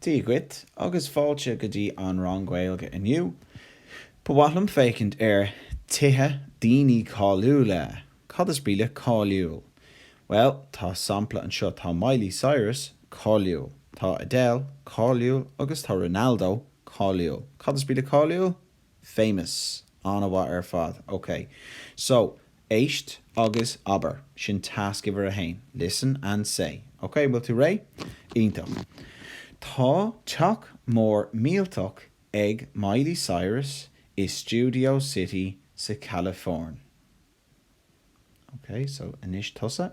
Dia dhuit agus fáilte go dtí an rang Gaeilge inniu. Ba mhaith liom féachaint ar tithe daoine cáiliúla. Cad is brí le cáiliúil? Bhuel, tá sampla anseo, tá Miley Cyrus cáiliúil, tá Adele cáiliúil agus tá Ronaldo cáiliúil. Cad is brí le cáiliúil? famous. An-mhaith ar fad. Ok. So, éist agus abair. Sin tasc uimhir a haon. Listen and say. Ok, an bhfuil tú réidh? Iontach. Tá teach mór millteach ag Miley Cyrus i Studio City sa Chalafóirn. Ok, so anois tusa.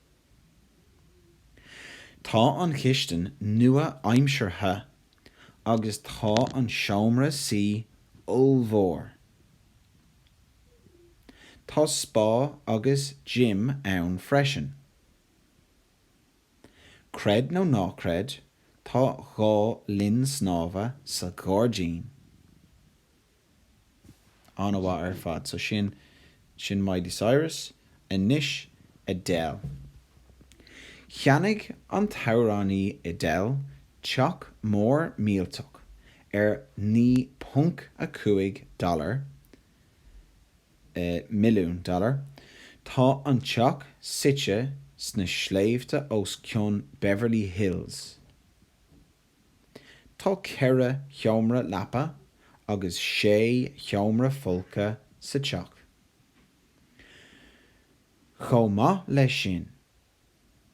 Tá an chistin nua-aimseartha agus tá an seomra suí ollmhór. Tá spá agus gym ann freisin. Creid nó ná creid, tá dhá linn snámha sa ghairdín. An-mhaith ar fad. So sin, sin Miley Cyrus. Anois Adele. Cheannaigh an t-amhránaí Adele teach mór millteach ar 9.5 dollar, eh, milliún dollar. Tá an teach suite sna sléibhte os cionn Beverly Hills. Tá ceithre sheomra leapa agus sé sheomra folctha sa teach. Chomh maith leis sin,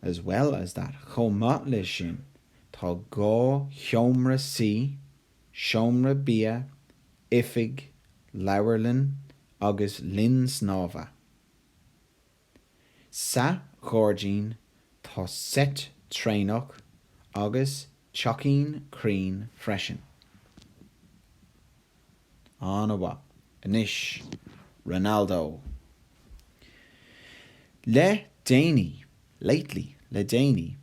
as well as that, chomh maith leis sin, tá dhá sheomra suí, seomra bia, oifig, leabharlann agus linn snámha. Sa ghairdín tá seit traenach agus teachín crainn freisin. An-mhaith. Anois, Ronaldo. Le déanaí, lately, le déanaí,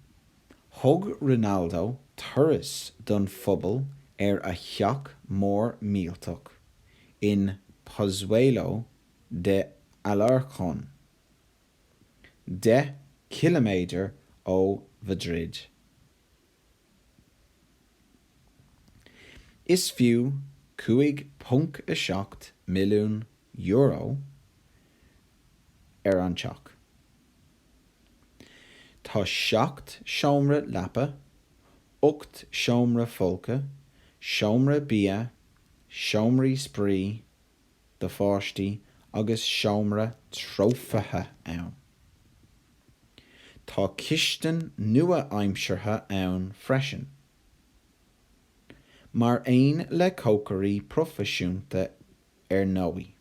thug Ronaldo turas don phobal ar a theach mór millteach in Pozuelo de Alarcón, deich gciliméadar ó Mhaidrid. Is fiú €5.7 milliún an teach. Tá seacht seomra leapa, ocht seomra folctha, seomra bia, seomraí spraoi, do pháistí agus seomra trófaithe ann. Tá cistin nua-aimseartha ann freisin, mar aon le cócairí proifisiúnta ar ndóigh.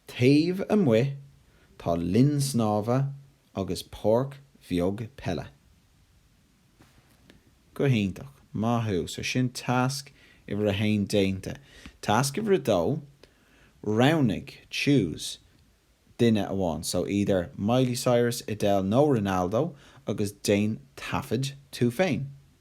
Taobh amuigh tá linn snámha agus páirc bheag peile. Go hiontach. Maith thú. So sin tasc uimhir a haon déanta. Tasc uimhir a dó, roghnaigh, choose, duine amháin, so either Miley Cyrus, Adele nó Ronaldo agus déan taifead tú féin.